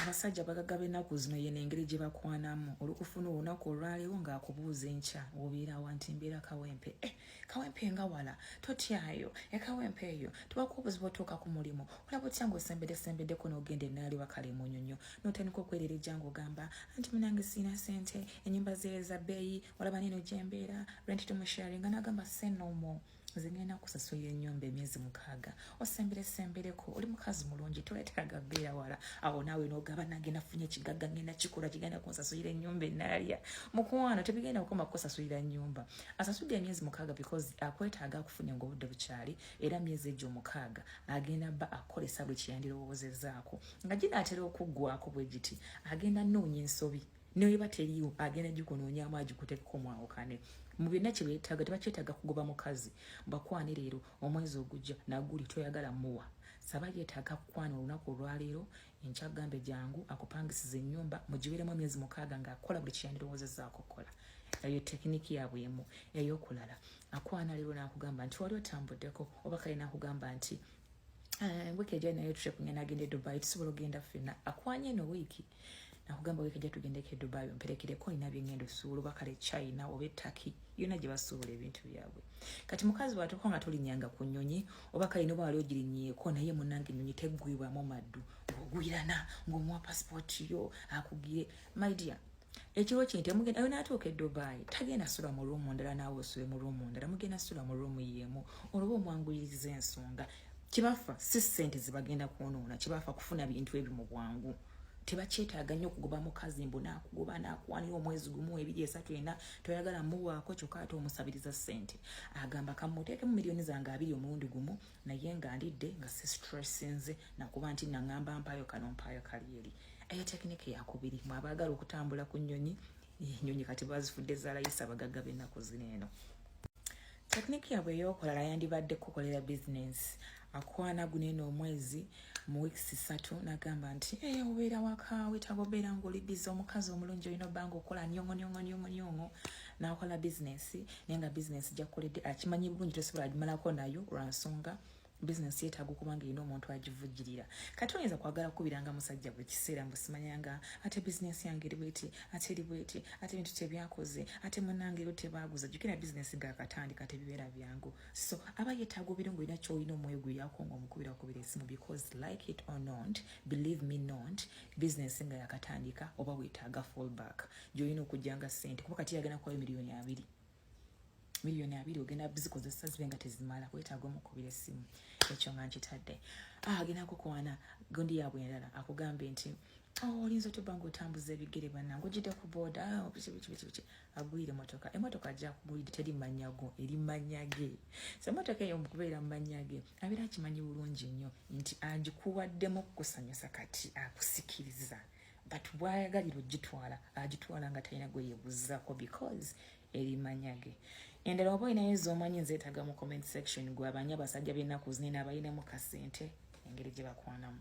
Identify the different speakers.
Speaker 1: abasajja bagaga benaku zino yena engeri gye bakwanamu olukufuna olunaku olwalewo ngaakubuuza enkya obeerawa nti mbeera kawempe eh, kawempe nga wala totyayo ekawempe eh, eyo tewaka obuzibu otuuka ku mulimu olaba otya ngaosembedesembeddeko n'ogenda enaali wakale munyonyo notandika okwerera ejjanga ogamba anti munange siina sente enyumba zeeza bbeeyi olaba neno gyembeera renti tumusharinga nagamba senomo no nze ngenda kusasulira ennyumba emyezi mukaaga osembere sembereko oli mukazi mulungi toleteraga beera wala awo naawe nogaba nange nafunye ekigagga ngenda kikola kigenda kunsasulira ennyumba enaalya mukwano tebigenda kukoma kukusasulira nnyumba asasulira emyezi mukaaga because akwetaaga akufunye ngaobudde bukyali era myezi egyo omukaaga agenda bba akukolesa buli kyeyandirowoozezzaako nga ginaatera okuggwako bwe giti agenda noonya ensobi neweba teliyo agenda gikunoonyamu agikutekeko mwawukane mu byonna kyebetaaga tebakyetaaga kugoba mukazi bakwane leero omwezi ogujja naguli toyagala muwa saba yetaaga kukwana olunaku olwaleero enkyagambe jangu akupangisiza ennyumba mugiberemu emyezi mukaaga ngaakola buli kyeyandirowoozezaako okukola eyo tekiniki yabwe emu eyokulala akwana leero nakugamba nti wali otambuddeko oba kale nakugamba nti ah, wiiki ejayo nayo trip ngenda agenda e dubai tusobola ogenda ffena akwanye eno wiiki nakugamba wiki ejja tugendeko e dubai omperekereko olina byengenda osuula oba kale china oba etaki yona gye basuubula ebintu byabwe kati mukazi watuuka nga tolinyanga ku nyonyi oba kale noba wali ogirinyeeko naye munange enyonyi teggwibwamu maddu ng'ogwirana ng'omuwa pasipooti yo akugire my dear ekiro kino temugenda ayo natuuka edubai tagenda sula mu ruumu ndala naawe osule mu ruumu ndala mugenda sula mu ruumu yeemu olwoba omwanguyiriza ensonga kibafa si sente zibagenda kwonoona kibafa kufuna bintu ebyo mu bwangu tebakyetaaga nnyo okugoba mukazi mbu nakugoba nakuwanira omwezi gumu ebiri esatu ena toyagala muwaako kyokka ate omusabiriza sente agamba kamuteekemu miliyoni zange abiri omulundi gumu naye nga ndidde nga si stressinze nakuba nti naŋamba mpaayo kano mpaayo kali eri eyo tekiniki yakubiri mwabaagala okutambula ku nnyonyi enyonyi kati bazifudde zalayisa abagagga b'ennaku zino eno tekiniki yabwe eyokolala yandibadde kukolera bizinensi akwana guno eno omwezi mu weeks satu nagamba nti ey eh, obeera wakaawe tagobeera ngaoli bizi omukazi omulungi olina obbanga okola nyongonyongonyongonyongo nakola bizinensi naye nga bizinensi gyakukoledde akimanyi bulungi tosobola gimalako nayo lwansonga bizinesi yetaaga okuba nga erina omuntu agivujjirira kati oyinza kwagala kukubiranga musajja buli kiseera mbu simanyanga ate bizinesi yange eri bweti ate eri bweti ate bintu tebyakoze ate munange ero tebaaguza jukira bizinesi gakatandika tebibeera byangu so aba yetaaga obeera nga olina kyolina omwoyo gweyako nga omukubira kubira esimu because like it or not believe me not bizinesi nga yakatandika oba wetaaga fallback gyolina okujjanga sente kuba kati yagenda kuwayo miliyoni abiri miliyoni abiri ogenda bizikozesa zibe nga tezimala kwetaaga omukubira essimu ekyo nga nkitadde ah, agenda kukwana gundi yaabwe endala akugambye nti oh, olinza otya obanga otambuza ebigere banange ojidde ku booda ah, bikibikibikibiki agwire emotoka emotoka ajja kugwide teri manya go eri manya ge so emotoka eyo mukubeera mumanya ge abeera akimanyi bulungi nnyo nti agikuwaddemu kukusanyusa kati akusikiriza ah, but bwayagalira ogitwala agitwala nga talina gwe yebuzzako because erimanya ge endala oba olinayo ezomanyi nzeetaga mu comment section gwe abanya basajja b'ennaku zinene abalinamu kasente engeri gye bakwanamu